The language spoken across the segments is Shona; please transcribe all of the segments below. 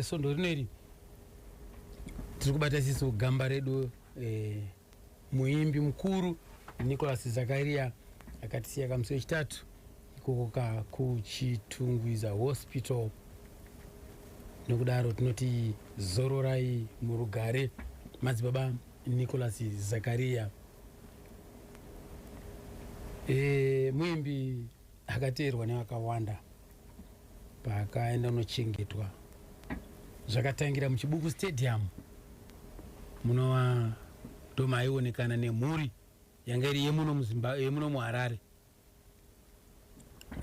Svondo rino iri tiri kubata siso gamba redu eh, muimbi mukuru Nicholas Zakaria akatisiya kamusi wechitatu ikoko ka kuChitungwiza Hospital. Nokudaro tinoti zororai murugare madzibaba Nicholas Zakaria. E, muimbi Akateerwa nevakawanda paakaenda kunochengetwa zvakatangira muChibuku Stadium munova ndomaionekana nemhuri yanga iri yemuno muharare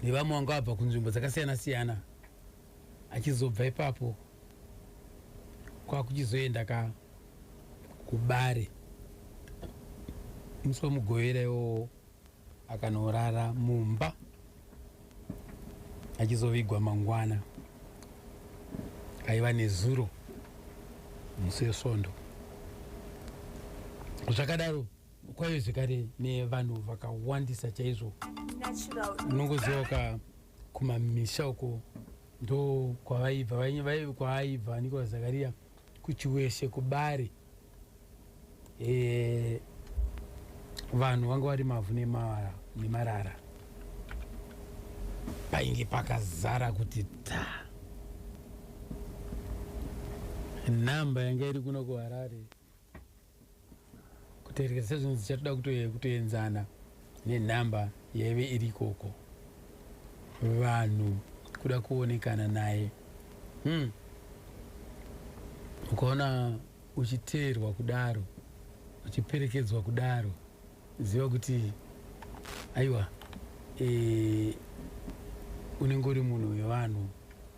nevamwe vanga vabva kunzvimbo dzakasiyana siyana achizobva ipapo kwakuchizoenda ka kubare musi wemugovera iwowo akanorara mumba achizovigwa mangwana aiva nezuro musi wesvondo zvakadaro kwaive zvekare nevanhu vakawandisa chaizvo unongoziva ka kumamisha uko ndo kwavaibva kwaaibva nikola zakariya kuchiweshe kubari e, vanhu vanga vari mavhu nemarara painge pakazara kuti ta nhamba yanga iri kuno kuharare kuterekera sezvinonzi chatoda kutoenzana nenhamba yaive iri ikoko vanhu kuda kuonekana naye hmm. ukaona uchiteerwa kudaro uchiperekedzwa kudaro ziva kuti aiwa e, unenge uri munhu wevanhu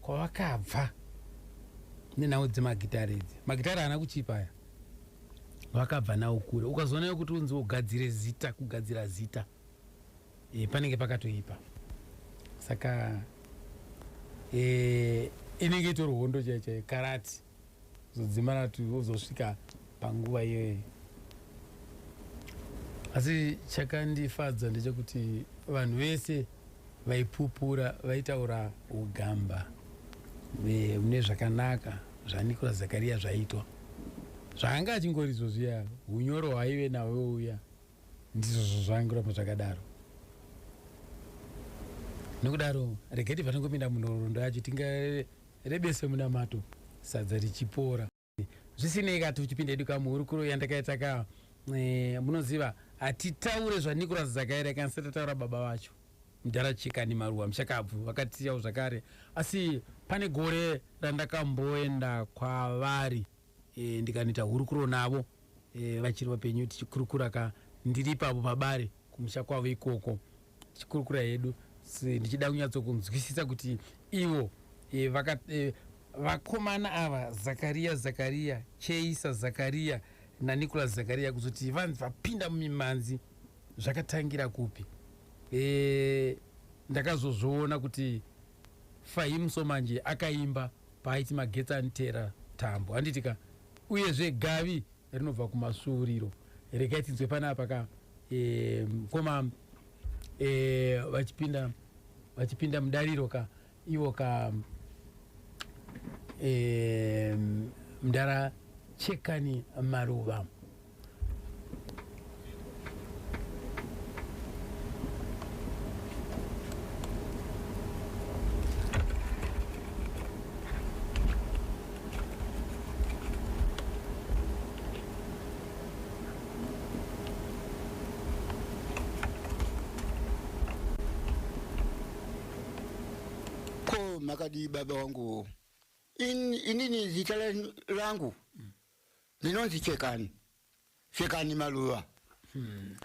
kwavakabva nenhau dzemagitare idzi magitare haana kuchipa aya vakabva nawo kure ukazoona yokuti unzi ugadzire zita kugadzira zita e, panenge pakatoipa saka e, inenge itori hondo chaichai karati zodzimara kuti uzosvika panguva iyoyo asi chakandifadza ndechekuti vanhu vese vaipupura vaitaura ugamba mune zvakanaka zvanikora zakariya zvaitwa zvaanga achingori izvo zviya unyoro hwaive nawo uya ndizvozvo zvaingoramba zvakadaro nokudaro regeti panongopinda munhoroondo yacho tinga Rebese munamato sadza richipora. Zvisinei ka tichipinda hedu ka muhurukuro yandakaita ka eh, munoziva hatitaure zvaNicholas Dzakaira kana satataura baba vacho mudhara Chikani Maruwa mushakabvu vakatiyawo zvakare asi pane gore randakamboenda kwavari e, ndikanoita hurukuro navo e, vachiri vapenyu tichikurukura ka ndiri ipapo pabare kumusha kwavo ikoko tichikurukura hedu ndichida kunyatsokunzwisisa kuti ivo e, vaka, e, vakomana ava zakariya zakariya cheisa zakariya nanicolas zakariya kuzoti vanzi vapinda mumimhanzi zvakatangira kupi e, ndakazozviona kuti fahimuso manje akaimba Paaiti magetsi aniteera tambo handiti ka uyezve gavi rinobva kumasvuuriro regai tinzwe panapa ka e, mkoma e, vachipinda vachipinda mudariro ka ivo ka e, mdara chekani maruva makadii baba wangu In, inini zita langu ndinonzi chekani chekani maluva hmm.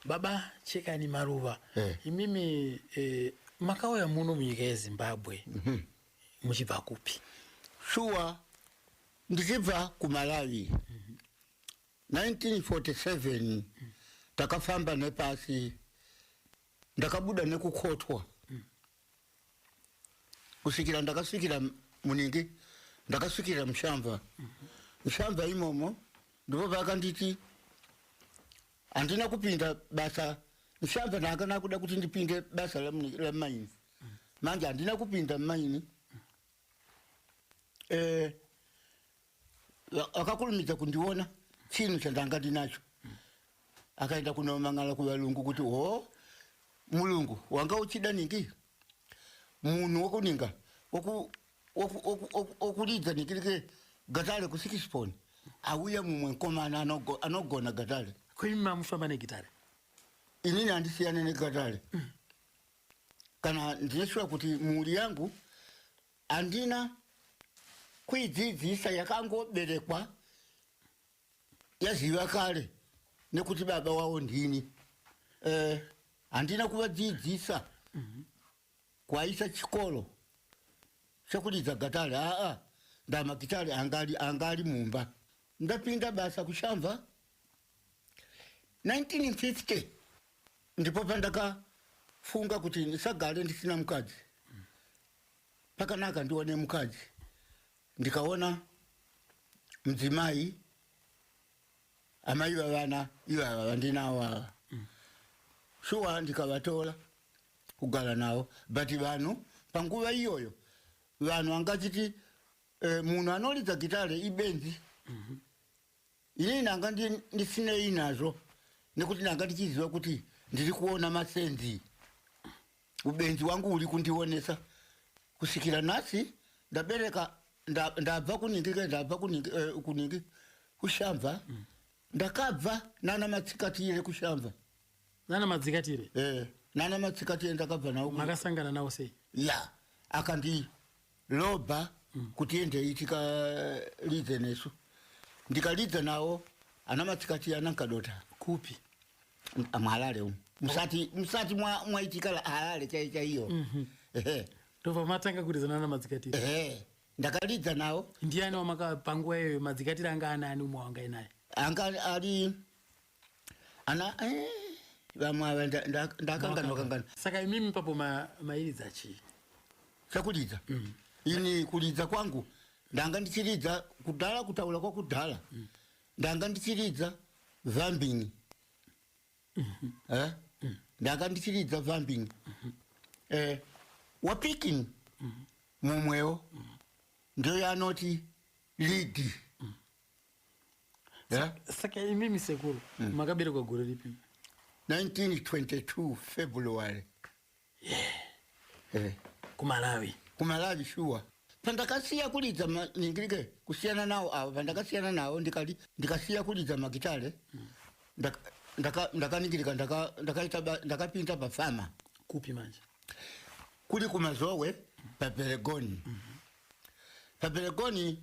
baba chekani maruva eh. imimi eh, makauya muno munyika yezimbabwe mm -hmm. muchibva kupi shuwa ndichibva kumalawi mm -hmm. 1947 mm. takafamba nepasi ndakabuda nekukotwa mm. kusvikira ndakasvikira muningi ndakasvikira mushamva mushamva imomo ndipo vakanditi handina kupinda basa mushamva ndaakana kuda kuti ndipinde basa lamaini manje handina kupinda maini eh, akakurumidza kundiona chinhu chandanga ndinacho akaenda kunomangana kuvalungu kuti ho mulungu wanga uchida ningi munhu wokuninga wokuridza nikirike gatare kusikisiponi auya mumwe mukomana anogona gatare kuimi mamufamba negitare inini handisiyane negatare mm. kana ndineshuwa kuti mhuri yangu Handina kuidzidzisa yakangoberekwa yaziva kare nekuti baba wavo ndini. Eh, handina kuvadzidzisa kwaisa chikoro chekudidza gatari aa ndamakitari angali angali mumba ndapinda basa kushamva 1950 ndipo pandakafunga kuti ndisagare ndisina mukadzi pakanaka ndione mukadzi ndikaona mudzimai amai vavana ivava vandinawo ava mm. shuwa ndikavatora kugara navo but vanhu panguva iyoyo vanhu angachiti eh, munhu anoridza gitare ibenzi mm -hmm. Ini ndanga ndisinei nazvo nekuti ndanga ndichiziva kuti ndiri kuona masenzi. Ubenzi wangu uri kundionesa kusvikira nhasi ndabereka ndabva kuningi ke ndabva kuningi eh, kuningi kushamva mm. ndakabva nana matsikatire kushamva nana matsikatire eh nana matsikatire ndakabva nawo makasangana nawo sei ya akandi Loba kuti endei tikalidze nesu. Ndikalidza nawo ana matsikati ana nkadota. Kupi? Muharare umu. Musati musati mwa mwaitika la- Harare chai chaiyo. Ehe. Ndobva matanga kuridza nana madzikatiri. Ehe. Ndakalidza nawo Ndiani wamaka panguva iyoyo madzikatiri anga anaani umwe wangai naye? anga ari ana eh, vamwe ava nda- nda- ndakanganwa kanganwa saka imimi ipapo ma- mairidza chii chakuridza ini kuridza kwangu ndanga ndichiridza kudhara kutaura kwakudhara ndanga ndichiridza vambini Eh? ndanga ndichiridza vambini Eh, wapikin mumwewo ndiyo yanoti lidi yeah? saka imimi sekuru mm. makaberekwa gore ripi 1922 february yeah. yeah. kumalawi kumalawi shuwa pandakasiya kulidza ningirike kusiyana nawo avo pandakasiyana nawo ndikati ndikasiya kulidza magitare mm. ndakaningirika ndakapinda pafama kupi manje kuri kumazowe paberegoni mm -hmm. paberegoni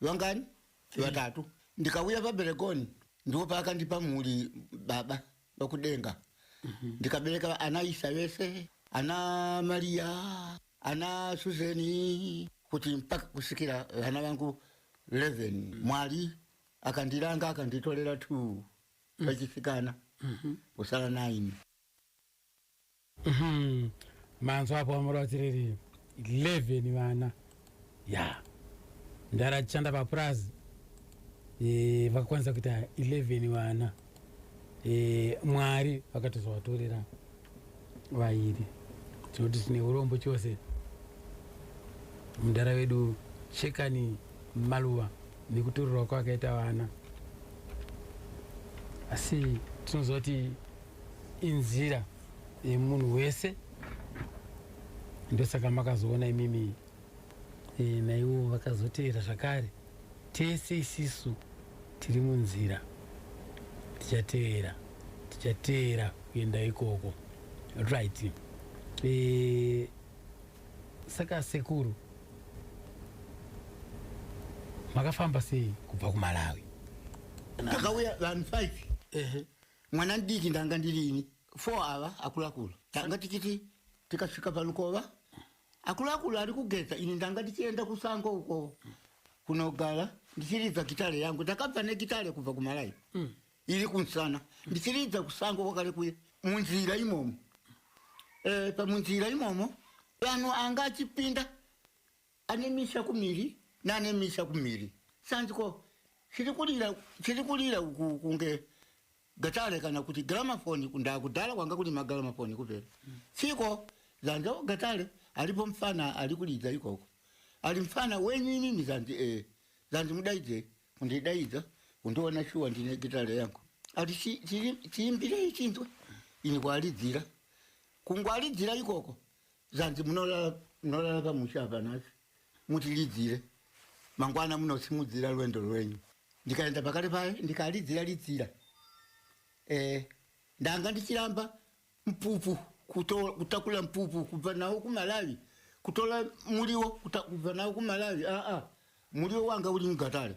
vangani vatatu ndikauya paberekoni ndiwo paakandipa mhuri baba vakudenga mhm. ndikabereka ana isa vese ana mariya ana suzeni kuti mpaka kusikira vana vangu 11 mm. mwari akandiranga akanditorera t mm. vachisikana mm-hmm. kusara 9 Mhm. manzwa apo vamora vatireri 11 vana ya ndara achishanda papurazi e, vakakwanisa kuita 11 vana e, mwari vakatozovatorera vairi tinoti tine urombo chose mudhara wedu shekani maluva nekutorerwa kwakaita vana asi tinozoti inzira yemunhu wese ndosaka makazoona imimi e, naiwo vakazoteera zvakare tese isisu tiri munzira tichateera tichateera kuenda ikoko right e, saka sekuru makafamba sei kubva kumalawi pakauya vanhu five mwana ndiki ndanga ndiri ini four ava akulu akulu tanga tichiti tikasvika palukova akulu akulu ari kugeza ini ndanga ndichienda kusango uko kunogara ndichiridza gitare yangu ndakabva negitare kubva kumalayi mm. iri kunsana ndichiridza kusango kwakare kuye munzira imomo e, pamunzira imomo vanhu anga achipinda Ane misha kumiri nane misha kumiri sanziko chiri kurira chiri kurira uku kunge gatare kana kuti gramafoni kundaa kudhara kwanga kuri magramafoni kupera chiko zanza gatare aripo mfana ari kuridza ikoko ari mfana wenyu inini zanzi e eh, zanzi mudaidze kundidaidza kundiona shuwa ndine gitare yangu ati chiimbirei chinzwe ini kwaridzira kungwaridzira ikoko zvanzi munorara pamusha apa nhasi mutilidzire mangwana munosimudzira rwendo rwenyu ndikaenda pakati paye ndikalidzira lidzira eh, ndanga ndichiramba mpupu kutakula mpupu kubva nawo kumalawi kutora muriwo kubva nawo kumalawi aa muriwo wanga uri mugatare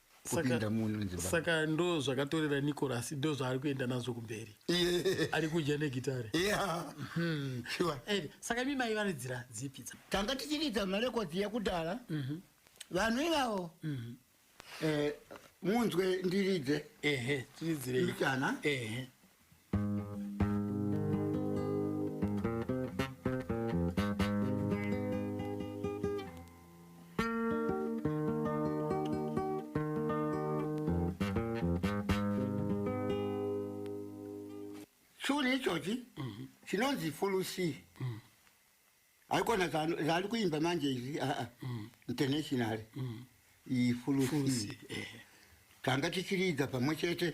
kupinda munhu mudzimba saka ndo zvakatorera nicolas ndo zvaari kuenda nazvo kumberi Yeah. ari kudya negitare Yeah. Sure. Eh, saka mi mai varidzira dzipi dza tanga tichiridza marekodzi yekudhara vanhu ivavo eh, munzwe ndiridze ehe tiridzirei mbichana ehe churi ichochi mhm. chinonzi fulusi mhm. haikona zvaari kuimba manje izvi aa ah, ah. mhm. international ifulusi eh. tanga tichiridza pamwe chete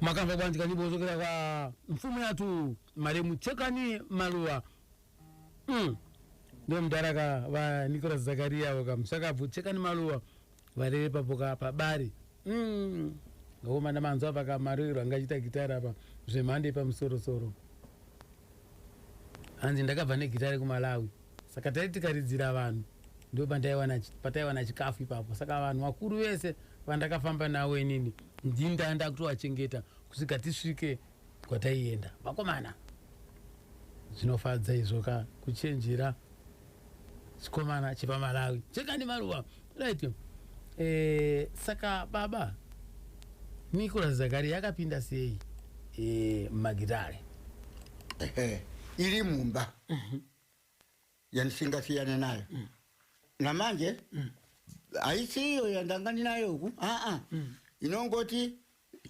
makanzwa kuwanzika nyimbo zokera kwa mfumo yatu maremu chekani maluwa mm. ndo mdara ka va nicolas zakaria avo ka musakabvu chekani maluwa varere papo ka pabari mm. ngaomana manzwa apa ka maririro anga achita gitara apa zvemhando yepamusorosoro hanzi ndakabva negitara kumalawi Saka taiti tikaridzira vanhu ndipo pandaiwana pataiwana chikafu ipapo. Saka vanhu vakuru vese vandakafamba navo inini ndini ndanga ndakutovachengeta kusvika tisvike kwataienda. Vakomana, zvinofadza izvo ka kuchenjera chikomana chepaMalawi. Chekani maruva. Right. Eh, saka baba Nicholas Zakaria akapinda sei eh, magitare? Ehe, iri mumba yandisingasiyane nayo mm. namanje mm. haisi iyo yandanga ndinayo uku aa mm. inongoti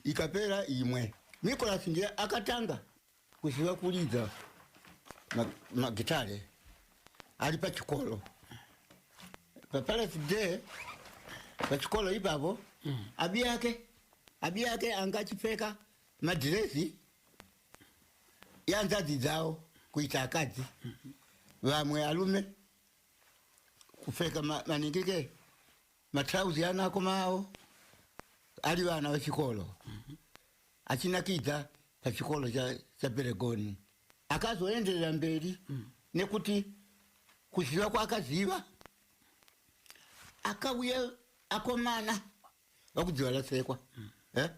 ikapera imwe nicolas ndiye akatanga kuziva kuridza magitare ma ari pachikoro papalasi day pachikoro ipapo mm. abi yake abi yake anga achipfeka madhirezi yanzadzi dzavo kuita akadzi vamwe alume kupfeka maningike matrauzi anako mavo ari vana vechikoro achinakidza pachikoro chaperegoni akazoenderera mberi nekuti kuziva kwaakaziva akauya akomana vakudziva lasekwa eh?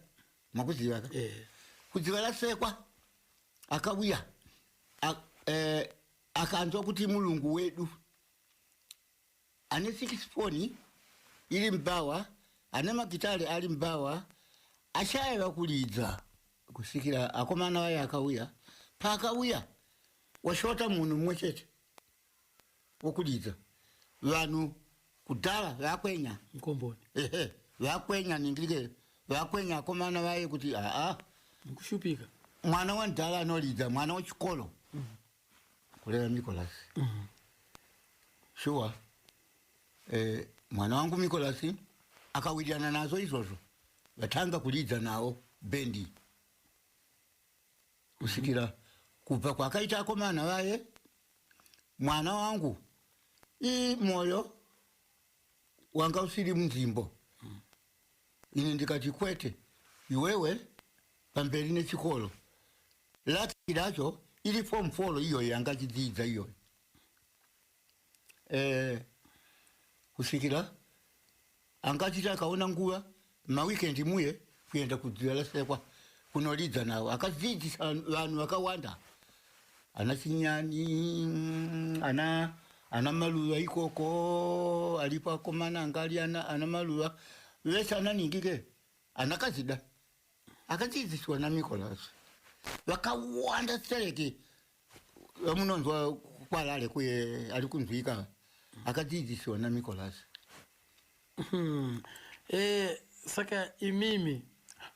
makuziva ka eh. kudziva lasekwa akavuya eh, akanzwa kuti mulungu wedu ane sikisifoni iri mubhawa ane magitare ari mubhawa achaiva kuridza kusvikira akomana vaye akauya paakauya washota munhu mumwe chete wokudidza vanhu kudhara vakwenya mkomboni ehe vakwenya ningirike vakwenya akomana vaye kuti aa mukushupika mwana wandhara anolidza mwana wechikoro mm. kureva mikolasi mm. Mm-hmm. shuwa eh, mwana wangu mikolasi akawirirana nazvo izvozvo vatanga kulidza nawo bendi kusvikira kubva kwakaita akomana vaye mwana wangu ii moyo wanga usiri munzimbo ini ndikati kwete iwewe pamberi nechikoro laki racho iri form folo iyoyo yanga chidziidza iyoyo eh, kusvikira anga achiti akaona nguva maweekend muye kuenda kudzivalasekwa kunoridza navo akadzidzisa vanhu vakawanda ana chinyani ana ana maluva ikoko aripo akomana anga ari ana, ana maluva vese ana ningi ke ana kazida akadzidziswa namicolas vakawanda sereke vamunonzwa kwalale kuye ari kunzwika akadzidzisiwa nanicolas hmm. eh, saka imimi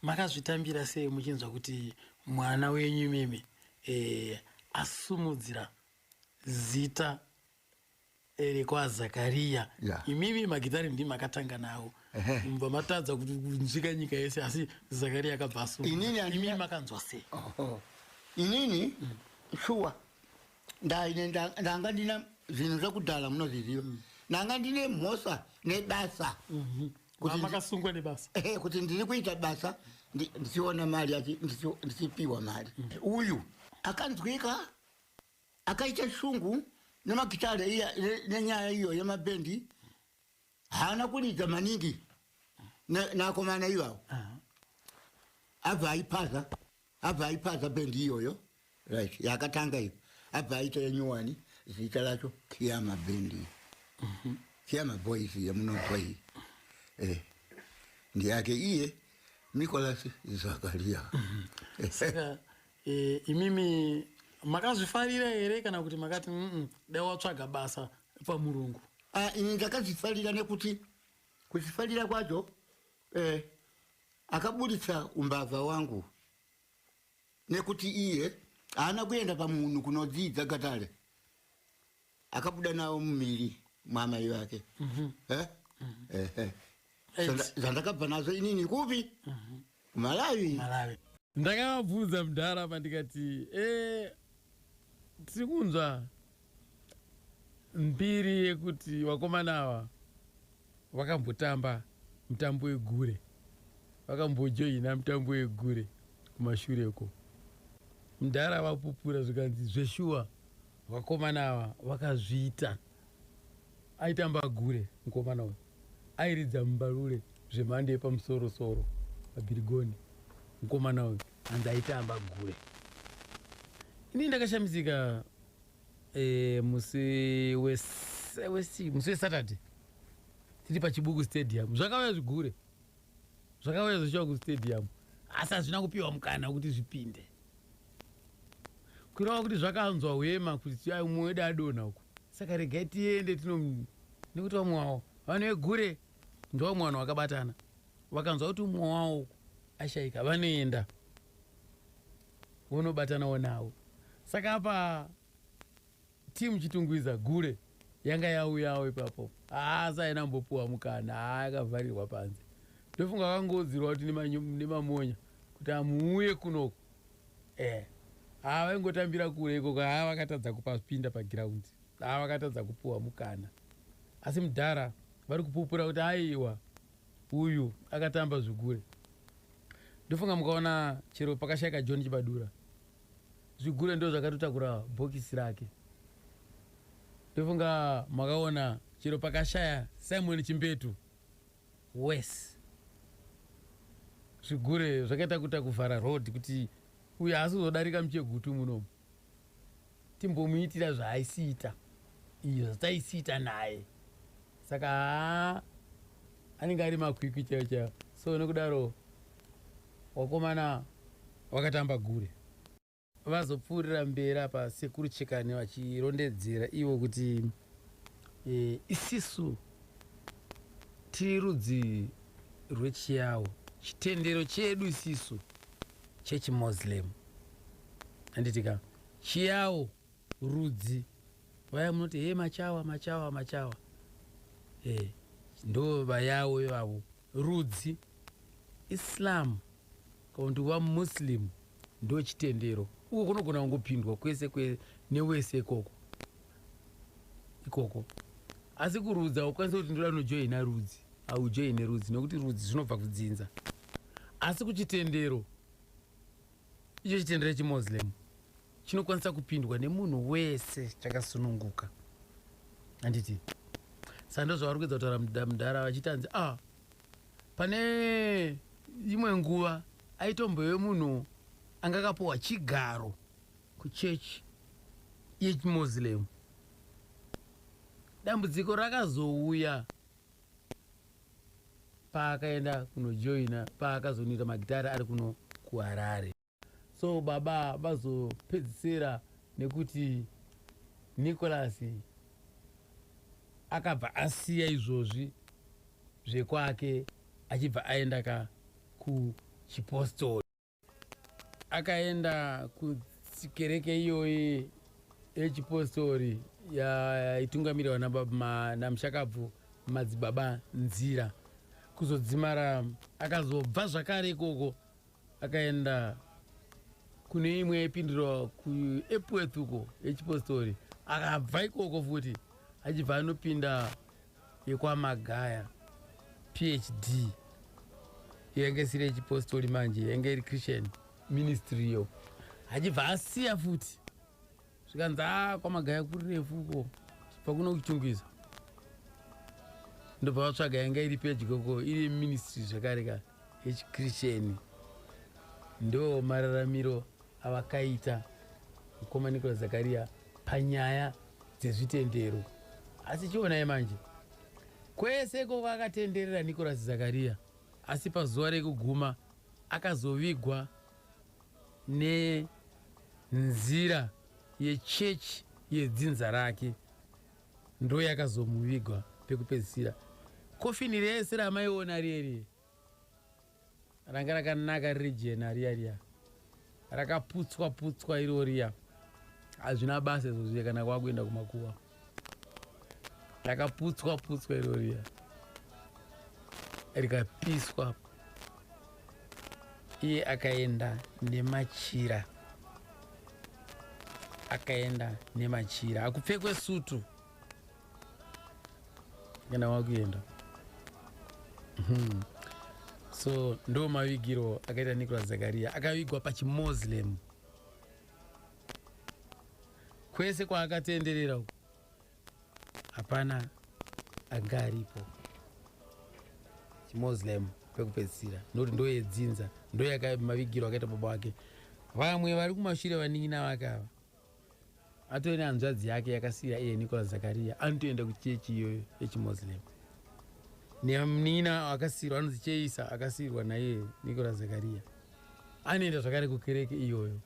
makazvitambira sei muchinzwa kuti mwana wenyu imimi eh, asumudzira zita ere kwaZakariya yeah. imimi magitare ndimi makatanga nawo mubva matadza kunzvika nyika yese asi Zakariya akabva asuimimi makanzwa sei inini mm. shuwa ndaine ndanga ndina zvinhu zvekudhala munozviziva mm. ndanga ndine mhosa nebasa mhm. makasungwa nebasa eh, kuti ndiri kuita basa ndichiona mari ndichipiwa mari mm. uyu akanzwika akaita shungu nemagitare iya ne- nenyaya iyo yemabendi haana kuridza maningi ne- neakomana ivavo abva aipaza abva aipaza bendi iyoyo right yakatanga iyo abva aita yenyuwani zita racho kiyama bendi kiyama boys yemunonzwa iyi eh. ndiyake iye nicolas zakaria saka e, imimi makazvifarira here kana kuti makati mm dai watsvaga basa pamurungu ah, ini ndakazvifarira nekuti kuzvifarira kwacho eh, akaburitsa umbavha wangu nekuti iye haana kuenda pamunhu kunodzidza gatare akabuda nawo mumiri mwamai vake mm -hmm. zvandakabva nazvo inini kupi mm malawi, malawi. ndakavabvunza mudhara apa ndikati e, eh, tiri kunzwa mbiri yekuti vakomana ava vakambotamba mutambo wegure vakambojoina mutambo wegure kumashure uko mudhara vapupura zvikanzi zveshuwa Vakomana ava vakazviita. Aitamba agure mukomana uyu. Airidza mumbalule zvemhando yepamusoro soro pabhirigoni mukomana uyu hanzi aitamba agure. Ini ndakashamisika eh, musi wese wesi musi wesaturday tiri pachibuku stadium zvakauya zvigure zvakauya zvichiwa kustadium asi hazvina kupiwa mukana wekuti zvipinde kureva kuti zvakanzwa hwema kuti mumwe wedu adonha uku saka regai tiende tino nekuti vamwe wavo vanhu vegure ndovamwe vanhu vakabatana vakanzwa kuti umwe wavo uku ashaika vanoenda vonobatanawo navo saka apa Team Chitungwiza gule yanga yauyawo ipapo haasi aina mbopuwa mukana haa yakavharirwa panze ndofunga vakangoudzirwa kuti nemamonya kuti amuuye kunoko eh haa vaingotambira kure ikoko haa vakatadza kupapinda pagiraundi haa vakatadza kupuwa mukana asi mudhara vari kupupura kuti aiwa uyu akatamba zvigure ndofunga mukaona chero pakashaika john chibadura Zvigure ndozvakatotakura bhokisi rake. Ndofunga makaona chero pakashaya Simon Chimbetu. Worse. Zvigure zvakaita kuita kuvhara road kuti uyu haasi kuzodarika muchegutu munomu. Timbomuitira zvaaisiita. Iyo zvataisiita naye. Saka haa anenge ari makwikwi chaiwo chaiwo. So nokudaro Wakomana wakatamba gure. Vazopfuurira mberi apa sekuru Chekani vachirondedzera ivo kuti e, isisu tiri rudzi rwechiyawo chitendero chedu isisu chechimuslim anditika chiyawo rudzi vaya munoti he machawa machawa machawa e, ndo vayawo ivavo Rudzi, Islam kana kuti wa Muslim ndo chitendero uko kunogona kungopindwa kwese kwe newese ikoko ikoko asi kurudzi haukwanise kuti ndoda kunojoina rudzi haujoine rudzi nekuti rudzi zvinobva kudzinza asi kuchitendero icho chitendero chemoslem chinokwanisa kupindwa nemunhu wese chakasununguka handiti sando zvavari kuedza kutaura mudhara vachiti hanzi a ah, pane imwe nguva aitombove munhu anga akapuwa chigaro kuchechi yechimuslim dambudziko rakazouya paakaenda kunojoina paakazonira magitare ari kuno kuharare so baba vazopedzisira nekuti nicholas akabva asiya izvozvi zvekwake achibva aenda ka kuchipostori akaenda kukereke iyoyi yechipostori yaitungamirwa namushakabvu madzibaba nzira kuzodzimara akazobva zvakare ikoko akaenda kune imwe yaipindirwa kuepworth uko yechipostori akabva ikoko futi achibva anopinda yekwamagaya phd yainge isiri yechipostori manje yainge iri christian ministry yo achibva asiya futi zvikanzi a ah, kwamagaya kuri refu uko chibva kuno kuchungwiza ndobva vatsvaga yanga iri pedyo ko iri ministry zvekare kare echikrisheni ndo mararamiro avakaita mukoma nicolas zakariya panyaya dzezvitendero asi chionai manje kwese ikoko akatenderera nicolas zakariya asi pazuva rekuguma akazovigwa nenzira yechechi yedzinza rake Ndo yakazomuvigwa pekupedzisira. Coffin rese ramaiona riye riye ranga rakanaka riri jena riya riya rakaputswa putswa iro riya hazvina basa izvo zviye kana kwakuenda kumakuva rakaputswa putswa iro riya rikapiswa iye akaenda nemachira akaenda nemachira akupfekwe sutu kana wakuenda hmm. so ndo mavigiro akaita nicolas zakaria akavigwa pachimoslem kwese kwaakatenderera uku hapana anga aripo chimuslim pekupedzisira nokuti ndoyedzinza ndoyakamavigiro akaita baba wake vamwe vari kumashure vanin'ina vake ava atove nehanzvadzi yake yakasiya iye nicola zakaria anotoenda kuchechi iyoyo yechimuslim nemunin'ina akasirwa anonzi cheisa akasirwa naiye nicola zakaria anoenda zvakare kukereke iyoyo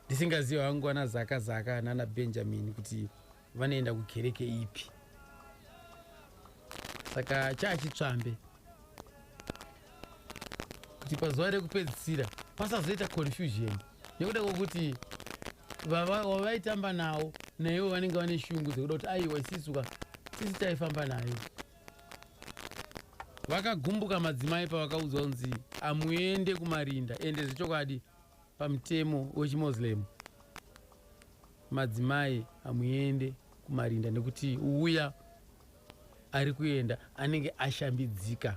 ndisingaziva hangu ana zaka zaka nana benjamin kuti vanoenda kukereke ipi saka chaachitsvambe kuti pazuva rekupedzisira pasazoita confusion nekuda kwokuti wavaitamba nawo naivo vanenge vane shungu dzekuda kuti aiwa isisuka sisi taifamba nayo vakagumbuka madzimai pavakaudzwa kunzi amuende kumarinda ende zvechokwadi Pamutemo wechiMoslem madzimai hamuende kumarinda nekuti uya ari kuenda anenge ashambidzika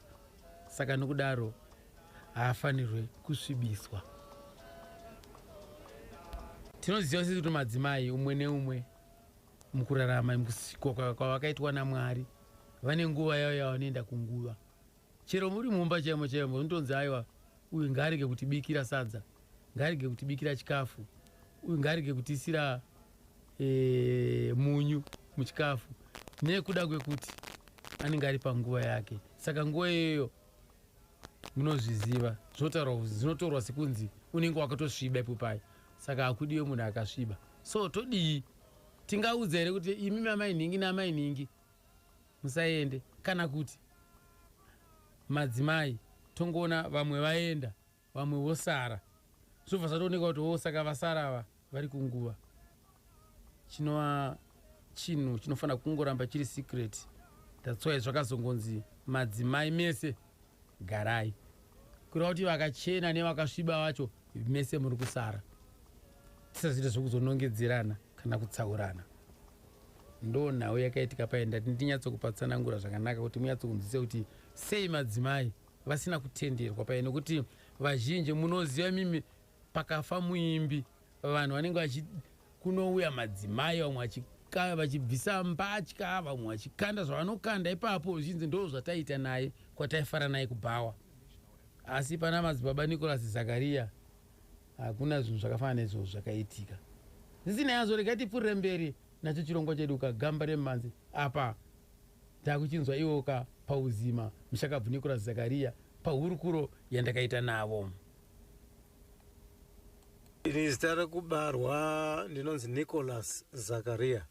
saka nokudaro haafanirwe kusvibiswa. Tinoziva sisi kuti madzimai umwe neumwe mukurarama mukusikwa kwavakaitwa naMwari vane nguva yavo yavanoenda kunguva Chero muri mumba chaimo chaimo unotonzi aiwa uyu ngaarege kutibikira sadza, ngaarege kutibikira chikafu, uyu ngaarege kutiisira e, munyu muchikafu nekuda kwekuti anenge ari panguva yake. Saka nguva iyoyo munozviziva zvotaurwa kuzi zvinotorwa sekunzi unenge wakatosviba ipo paye, saka hakudiwe munhu akasviba. So todii? Tingaudza here kuti imi mamai nhingi namai nhingi musaende kana kuti madzimai tongoona vamwe vaenda vamwe vosara zvobva zvatooneka kuti wo saka vasara ava vari kunguva chinova chinhu chinofanira kungoramba chiri secret that's why zvakazongonzi madzimai mese Garai. Kureva kuti vakachena nevakasviba vacho mese muri kusara. Tisazoita zvokuzonongedzerana kana kutsaurana. Ndo nhau yakaitika paye ndati ndinyatsokupatsanangura zvakanaka kuti munyatsokunzwisisa kuti sei madzimai vasina kutenderwa paye nokuti vazhinji munoziva mimi pakafa muimbi vanhu vanenge vachi kunouya madzimai vamwe vachika- vachibvisa mbatya vamwe vachikanda zvavanokanda ipapo zvichinzi ndo zvataita naye kwataifara naye kubhawa asi pana madzibaba nicolas zakariya hakuna zvinhu zvakafanana nezvozvo zvakaitika zvisinei hazvo regai tipfuurire mberi nacho chirongwa chedu ka gamba remhanzi apa takuchinzwa ivo ka pauzima mushakabvu nicolas zakariya pahurukuro yandakaita navo Ini zita rekubarwa ndinonzi Nicholas Zakaria.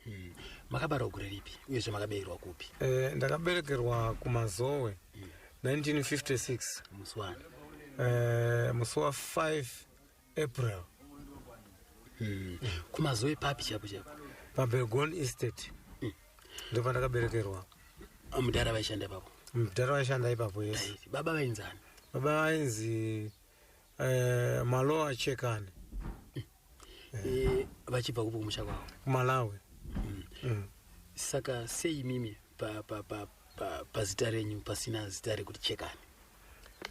Hmm. Makabarwa gure ripi uyezve makaberekerwa kupi? Eh, ndakaberekerwa kuMazowe hmm. 1956. Musi wani? Eh, musi wa 5 April. Hmm. Kumazowe papi chapo chapo? PaBelgon Estate. Hmm. ndopandakaberekerwa mudhara vaishanda ipapo mudhara vaishanda ipapo yes baba vainzani baba vainzi eh, maloa chekani eh, vachibva kupo kumusha kwavo kumalawi mm. mm. saka sei mimi pazita pa, pa, pa, pa renyu pasina zita rekuti chekani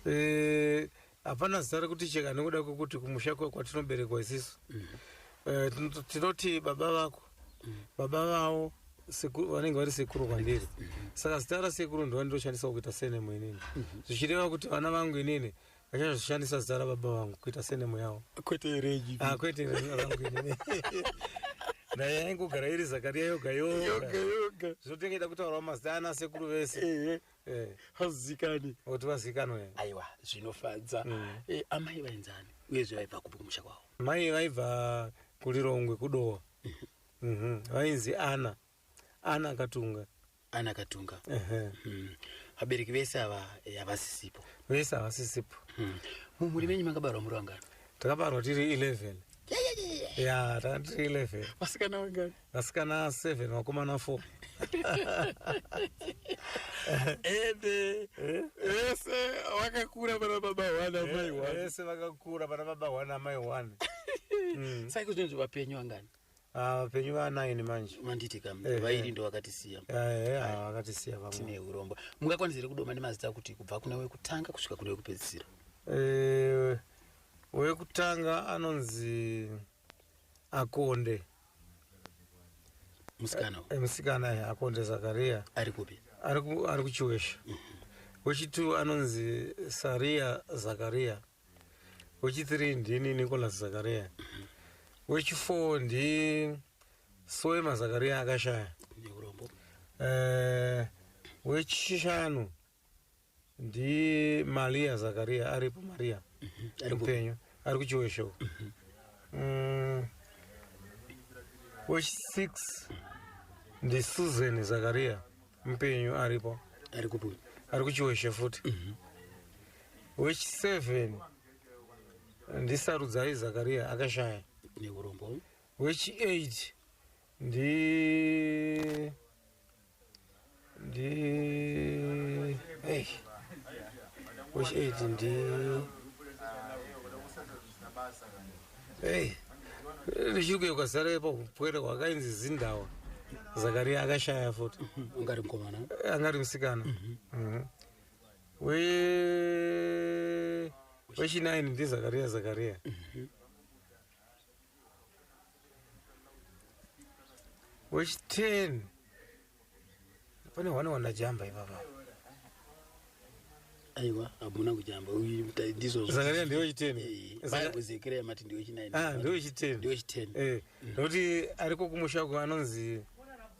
eh, hapana zita rekuti cheka nekuda kwekuti kumusha kwatinoberekwa isisu mm. eh, tinoti baba vako mm. baba vavo vanenge vari sekuru kwandiri mm. saka zita rasekuru ndova ndoshandisa kuita senemo inini mm-hmm. zvichireva kuti vana vangu inini vachazoshandisa zita rababa vangu kuita senemo yavo kwete regi ah, kwete rangu inini naye yaingogara iri zakariya yoga yoga zvotengeita kutaurawo mazita ana sekuru vese Eh. hazikani oti vazikanwa eh. aiwa zvinofadza mm. eh, amai vainzani uyezve vaibva kupi kumusha kwavo mai vaibva kulirongwe kudowa mm -hmm. vainzi ana ana akatunga ana akatunga uh -huh. mm. vabereki vese ava eh, havasisipo vese havasisipo mm. mumhuri menyu makabarwa muri vangani takabarwa tiri 11 ya tanga tiri 11 vasikana vangani vasikana 7 vakomana 4 ende vese vakakura vana baba one amai one vese vakakura vana baba one amai one Mm. saka zvinonzi vapenyu vangani Ah, vapenyu vanaini manje manditi kam Eh, vairi eh. ndo vakatisiya Eh, eh, ah, vakatisiya vamwe tine urombo mungakwanisa here kudoma nemazita kuti kubva kune wekutanga kusvika kune wekupedzisira Eh, wekutanga anonzi akonde musikana eh, eh, musikana eh, akonde zakaria ari kupi ari kuchiwesha mhm. wechitwo anonzi saria zakaria wechithree ndini nicolas zakaria mhm. wechifour ndi soema zakaria akashaya wechishanu ndi maria zakaria aripo maria ari mupenyu ari kuchiwe show Mm, wechsix ndi susan zakaria mupenyu aripo ari kupi uyu ari kuchiweshe futi wechiseven ndi sarudzai zakaria akashaya neurombo wechieight ndi ndi hey. which aid ndi hey. richiri kuye kwazara ipo kupwere kwakainzi zindawa zakaria akashaya futi angari mukomana angari musikana mhm. Mhm. we wechinaini ndizakaria zakaria, zakaria. Mm -hmm. wechiten pane hwana hwana jamba ipapa aiwa hamuna kujamba ndizozakaria ndiwe chiten baibuzekira yamati ndiwe chinaini ah, ndiwe chiten ndiwe chiten eh, mm. nokuti ariko kumusha ko anonzi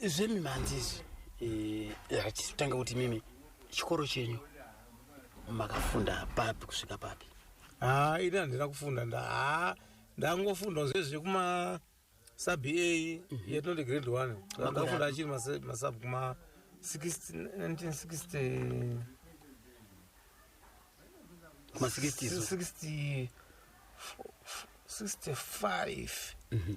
zvemimhanzi izvi eh, hatitanga kuti mimi chikoro chenyu makafunda papi kusvika papi haa ini handina kufunda nda haa ndangofunda zve zvekuma sub a yatinoti grade one ndakafunda achiri masub kuma 1960 kuma 60 65 mm -hmm.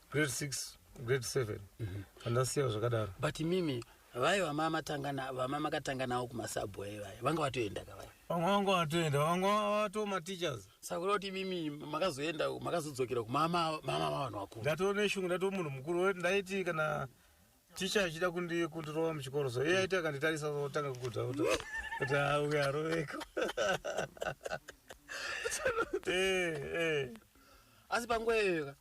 grade six grade seven andasiya zvakadaro but mimi vaye vamamatangana vamamakatanga nawo kumasabway vaye vanga vatoenda ka vaye vamwe vanga vatoenda vamwe vato mateachers saka kuda kuti mimi makazoenda makazodzokera kumama mama vavanhu vakuru ndatoo neshungu ndatoo munhu mukuru wet ndaiti kana ticha achida kundi- kundirova muchikoro so iye aiti akanditarisa otanga kukuta kuti kuti auya aroveko Eh, eh. asi panguva iyoyo ka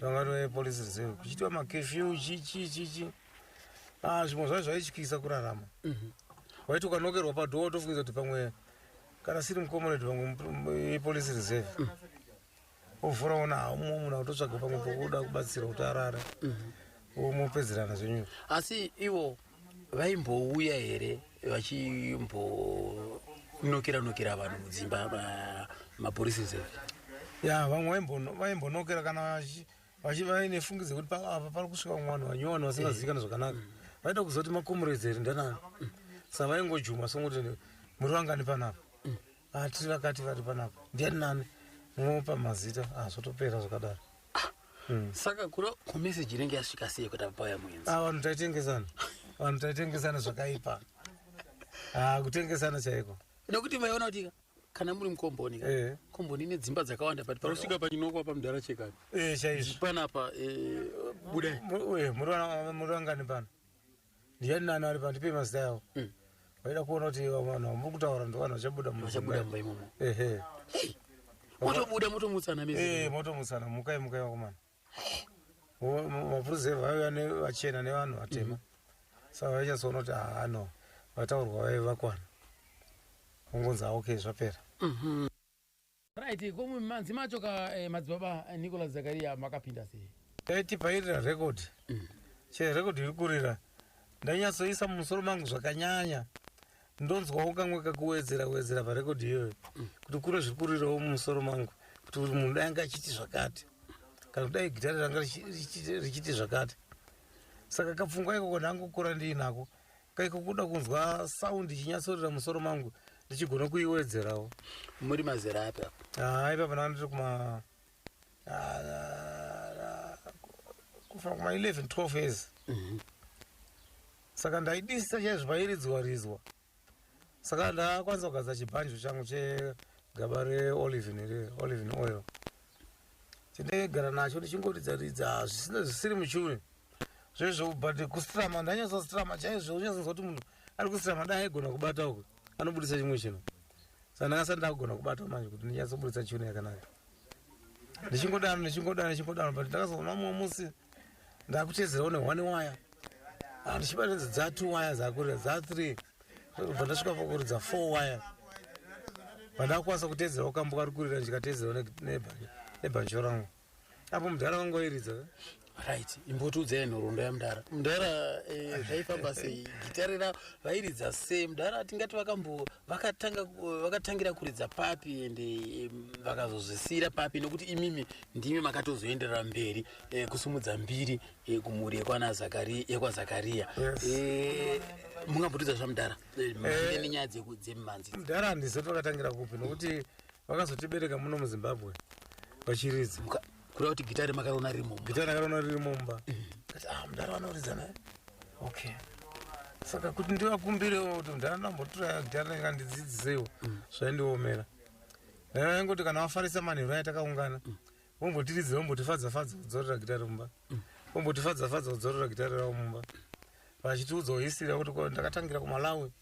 tanga toye police reserve kuchiitwa makefyu chichi chichi ah, zvimwe zvacho zvaityisa kurarama mhm. waiti ukanokerwa padhoo watofungiza kuti pamwe kana siri mukomoredi pamwe ipolice reserve mhm. ovhura ona haumo muna utotsvaga pamwe pokuda kubatsira kuti arare mhm. womupedzerana zvenyu asi ivo vaimbouya here vachimbonokera nokera vanhu mudzimba mapurisa zeve ya vamwe vaimbonokera kana vaine fungi dzekuti paapa pari kusvika vamwe vanhu vanyowani vasingazivikana zvakanaka vaida kuzoti makomuredzeri ndanani sa vaingojuma songoti muri vangani panapa ati vakati vari panapa ndiani nani mopa mazita ah, zvotopera zvakadaro hmm. saka kura kumeseji inenge yasvika sei kuti apauya muenzi ah, vanhu taitengesana vanhu taitengesana zvakaipa ah, kutengesana chaiko nekuti maiona kuti kana muri mukomboni ka eh. komboni ine dzimba dzakawanda but panosvika pachinokwa pamudhara chekani eh, chaizvo panapa eh, budai muri vangani pano ndiani nani ari pandipe mazita yawo mm. vaida kuona kuti vanhu vamuri kutaura ndovanhu vachabuda vachabuda mumba imomo ehe motobuda motomutsana mese eh motomutsana mukai mukai vakomana mapurisa vaiva nevachena nevanhu vatema mm. saka vaichasoona kuti haano ah, vataurwa vaive vakwana ungonzi aoke zvapera mm-hmm. right ko mumanzi macho ka eh, madzibaba eh, nicolas zakaria makapinda sei taitibhairira record chero record iri kurira ndanyatsoisa mumusoro mangu zvakanyanya ndonzwawo kamwe kakuwedzera wedzera parecord iyoyo kuti kune zviri kurirawo mumusoro mangu kuti kuti munhu dai anga achiti zvakati kana kudai gitare ranga richi- richi- richiti zvakati saka kapfungwa ikoko ndangokura ndiinako Kai kukuda kunzwa sound ichinyatsorira musoro mangu ndichigona kuiwedzerawo. Muri mazera api apo? Ah, ipapo ndanga ndiri kuma ah, kufa kuma 11 12 years. Mhm. Saka ndaidisa chaizvo pairidzwa ridzwa. saka ndakwanisa kugadza chibhanjo changu chegaba reolivin here olivin oil chindaigara nacho ndichingoridza ridza zvisina zvisiri muchure zvezvo but kustrama ndanyasa strama chaizvo unyasonzwa kuti munhu ari kustrama dai aigona kubata uku anobudisa chimwe chino saka ndakasa ndakugona kubata manje kuti ndinyasobudisa chino yakanaka ndichingodano ndichingodano ndichingodano but ndakazoona mumwe musi ndakutezerawo nehwani waya ah, ndichibatenzi dza two waya zakurira dza three ndakubva ndasvika pakuridza four wire pandakakwanisa kuteedzera ukambo kari kurira ndikateedzera nebhanjo rangu apo mudhara vangu vairidza right imbotiudzai nhoroondo yamudhara mudhara eh, zvaifamba sei gitare ra vairidza sei mudhara tingati vakambo vakatangira kuridza papi ende eh, vakazozvisiira papi nokuti imimi ndimi makatozoenderera mberi eh, kusumudza mbiri yekumhuri yekwana Zakaria yekwa Zakaria Yes. Eh, mungambotudza zvamudhara Eh, mhande nenyaya dzeku- dzemimhanzi mudhara handizivi pakatangira kupi nokuti vakazotibereka muno muzimbabwe vachiridza Muka- kuda kuti gitare makariona rimo gita rakarona riri mumba kati ah mudhara vanoridza naye okay saka kuti ndivakumbirewo kuti mudhara ndambotura gita renga ndidzidzisewo zvaindiomera ndangoti kana vafarisa manheru aya takaungana vombotiridza vombotifadza fadza kudzorera gitare mumba mm. vombotifadza fadza kudzorera gitare ravo mumba vachitiudza uhisira kuti ko ndakatangira kumalawi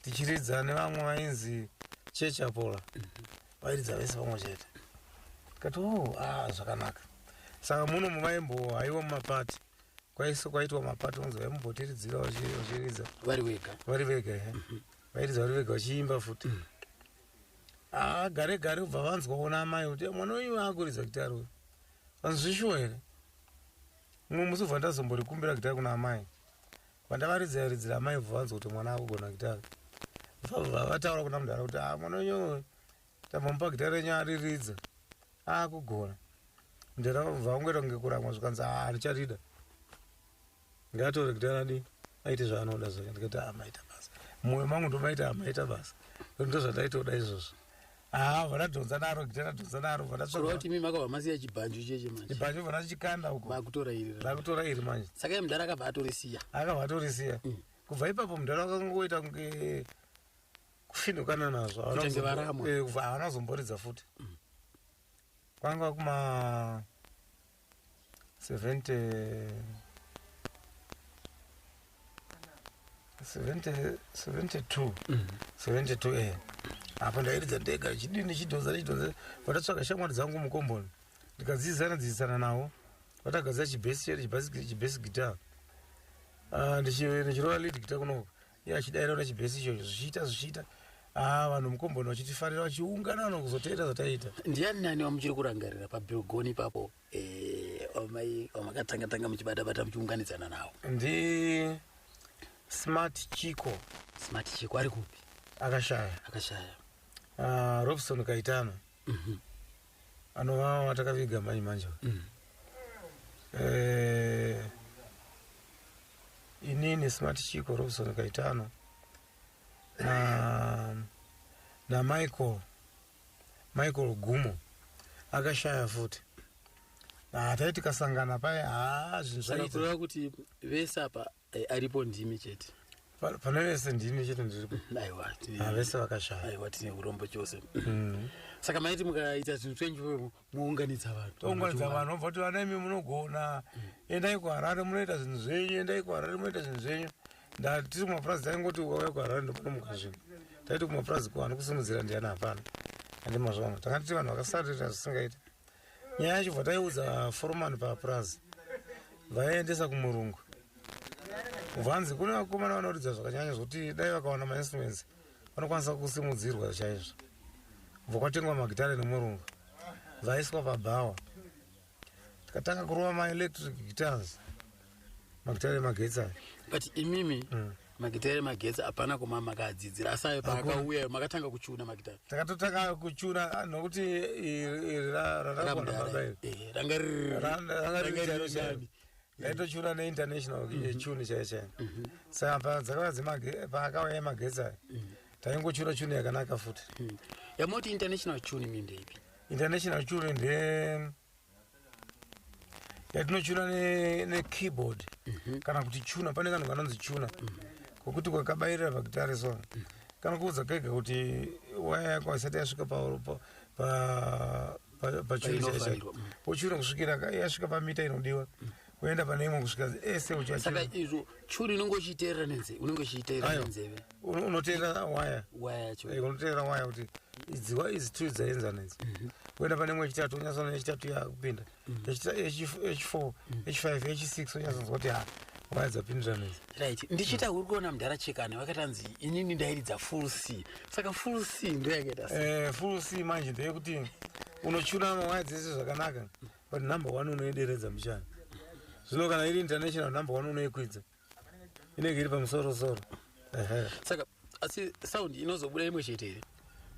tichiridza nevamwe vainzi church apola vairidza vese pamwe chete tikati o a zvakanaka saka muno muvaimbo haiwa mumapati kwaise kwaitwa mapati unzi vaimbotiridzira vachiridza vari vega vari vega he vairidza vari vega vachiimba futi mm. haa gare gare kubva vanzwa kuona amai kuti eh, mwana wenyu akuridza gitari uyu vanzwishuwa here mumwe musi ubva ndazomborikumbira gitari kuna amai vandavaridzira ridzira amai ubva vanzwa kuti mwana akugona gitari vabva vataura kuna mudhara kuti haa ah, mwana wenyu uyu tambomupa gitari renyu ariridza akugona ah, mudhara vabva vangoita kunge kuramwa zvikanzi haa ah, ndicharida Ngatore kuti anadi aite zvaanoda zvake ndikati ah maita basa. Mumwe mangu ndomaita ah maita basa. Ndozvataitoda izvozvo. Ah vanadhonza naro gita radhonza naro vanatsvaka. Kuroti mimi makava masiya chibanjo cheche manje. Chibanjo vanachikanda huko. Vakutora iri. Vakutora iri manje. Saka mdara akabva atorisiya. Akabva atorisiya. Mm. Kubva ipapo mdara akangoita kunge kufinukana nazvo. Kutange varamwa. Eh, Havana zomboridza futi. Mm. Kwanga kuma 70 70 72 mm. 72 eh apa ndairidza ndega chidii ndichidhonza ndichidhonza vatatsvaga shamwari dzangu mukomboni ndikadzidzisana dzidzisana navo vatagadzira chibesi chibesi guitar ah, ndichirova lead guitar kunoko iye achidairaura chibhesi ichocho zvichiita zvichiita haa vanhu mukomboni vachitifarira vachiungana vanhu kuzoteera zvataiita ndiani nani wamuchiri kurangarira pabilgoni ipapo eh, wamai wamakatanga tanga muchibata bata muchiunganidzana nawo ndi smart chiko smart chiko ari kupi akashaya akashaya uh, robson kaitano mm -hmm. anovava takaviga manje manje mm. eh, inini smart chiko robson kaitano na, na michael michael gumo akashaya futi ah, tai tikasangana paye haa ah, zvinhu zvaitaa kuti vese apa Eh, aripo ndimi chete Pa- pane vese ndimi chete ndiripo aiwa tine- Ah, vese vakashaya aiwa tine urombo chose Mm. saka maiti mukaita zvinhu zvenyu mounganidza vanhu tounganidza vanhu vobva kuti vana imi munogona endai kuharare munoita zvinhu zvenyu endai kuharare munoita zvinhu zvenyu Nda- tiri kumapurazi taingoti ukauya kuharare ndokunomuka zvinhu taiti kumapurazi kuvanhu kusimudzira ndiyani hapana andi mazvano tanga tiri vanhu vakasarira zvisingaiti nyaya yacho bva taiudza foromani papurazi vaiendesa kumurungu vanzi kune vakomana vanoridza zvakanyanya zvokuti dai vakawana mainstruments vanokwanisa kusimudzirwa chaizvo bva kwatengwa magitare nemurungu vaiswa pabhawa tikatanga kurova maelectric guitars makitare magetsi aya but imimi mm. magitare magetsi hapana kuma makaadzidzira asi ayo paakauya makatanga kuchuna magitare takatotanga kuchuna ah, nokuti raraaaae eh, ranga ririani ndaitochuna neinternational mhm. eh, chuni chaiyo chaiyo mhm. saka paakauya yemagetsi ayo mhm. taingochura chuni yakanaka futi yamoti international chuni mindeipi international chuni nde yatinochuna nekeyboard ne mm -hmm. kana kuti chuna pane kanhu kanonzi chuna mm -hmm. kokuti kwakabayirira pakitare so mm -hmm. kanokuudza kega kuti waya yako haisati yasvika pa, pa, pa pachuru chaicho wochura kusvikira yasvika pamita inodiwa kuenda pane imwe kusvika ese uchasaka izvo churi unenge uchiteerera nenzeve unenge uchiteerera nenzeve unoteerera waya waya yacho eh, unoteerera waya kuti idziwa izi two dzaenzana idzi mhm. kuenda pane imwe yechitatu unyatsona yechitatu yakupinda mhm. h4 h5 h6 unyatsonzwa kuti ha waya dzapindirana idzi right ndichiita uri kuona mudhara chekani vakatanzi inini ndairidza full c saka full c ndoyakaita eh, full c manje ndeyekuti unochuna mawaya dzese zvakanaka mm -hmm. but number one unoideredza mbichana zvino kana iri international number one unoikwidza inenge iri pamusorosoro saka asi sound inozobuda imwe chete here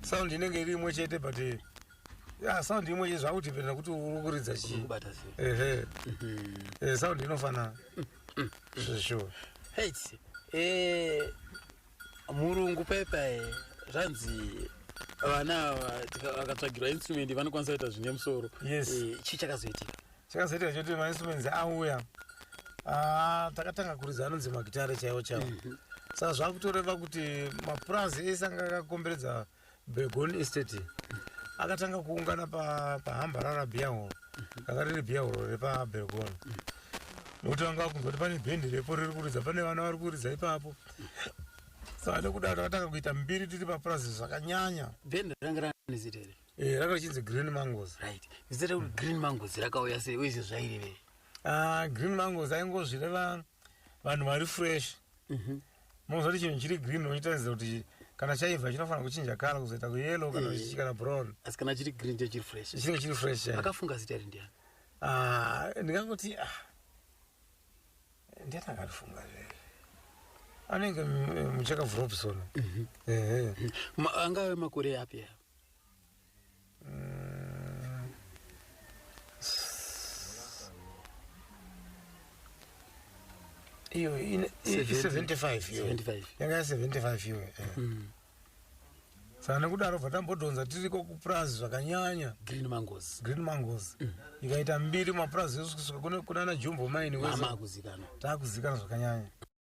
sound inenge iri imwe chete but eh, ya sound imwe chete zvakutipenda kuti uri kuridza chii kubata sei ehe Mhm. Eh, sound inofanana sure Hate. Eh, murungu pepe eh, zvanzi vana vakatsvagirwa instrument vanokwanisa kuita zvine musoro yes eh, chii chakazoitika chakazoitika choti mainstruments auya ah, takatanga kuridza anonzi magitare chaiwo chavo mm -hmm saka zvakutoreva kuti mapurazi ese anga akakomberedza Begon Estate akatanga kuungana pahamba pa rarabiya horo ranga riri biya horo repabergon nokuti vanga vakunzwa kuti pane bhendi repo riri kuridza pane vana vari kuridza ipapo saka nekuda takatanga kuita mbiri tiri papurazi zvakanyanya bhendi ranga rani zita here eh, ranga richinzi green mangos right zita rekuti green mangos rakauya sei uye izvi zvairevei ah, green mangos aingozvireva vanhu vari fresh mhm. mozoti chinhu chiri green unochitaridza kuti kana chaiva chinofanira kuchinja kala kuzoita kuyellow kana eh. chichikana brown asi kana chiri green chachiri fresh chinenge chiri fresh akafunga zita iri ndiani ah, ndingangoti ah, ndiani akarifunga zvee anenge muchaka vrobson mhm. angave makore api iyo 75 iyo yanga ya 75 iwe saka nekudaro bva tambodhonza tiriko kupurazi zvakanyanya green mangos green mangos mm. ikaita mbiri mapurazi esu kusvika kunana jumbo maini wese taakuzikana zvakanyanya